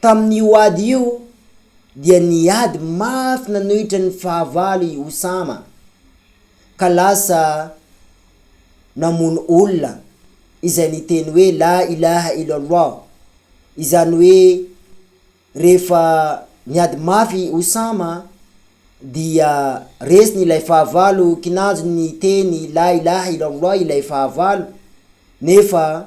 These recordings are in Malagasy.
Tamin'io ady io dia niady mafy nanohitra ny fahavalo i Osama ka lasa namono olona izay niteny hoe La ilaha illallah, izany hoe rehefa niady mafy i Osama dia resiny ilay fahavalo, kinanjony niteny La ilaha illallah ilay fahavalo nefa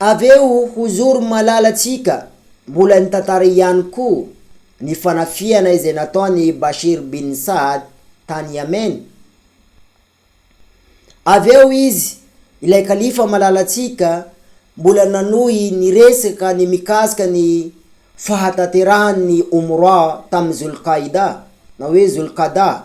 Avy eo ho zoro malalantsika mbola ny tantara ihany koa ny fanafihana izay nataon'i Bashir bin Saad tany Yemen. Avy eo izy, ilay kalifa malalantsika, mbola nanohy niresaka ny mikasika ny fahatanterahan'ny Umrah tamin'ny Zul-Qaida, na hoe Zul-Qada,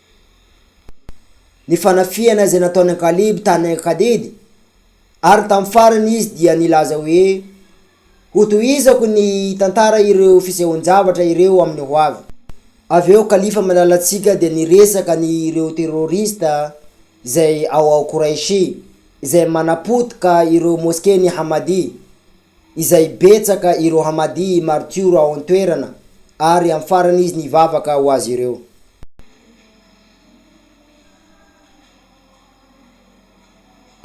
ny fanafihana izay nataon'i Kaleby tany Akadedy, ary tamin'ny farany izy dia nilaza hoe, Hotohizako ny hitantara ireo fisehoan-javatra ireo amin'ny hoavy. Avy eo kalifa malalantsika dia niresaka ny ireo terroriste izay ao ao Quraishi izay manapotika ireo mosquen'i Ahmadi, izay betsaka ireo Hamadí maritiora ao an-toerana, ary amin'ny farany izy nivavaka ho azy ireo.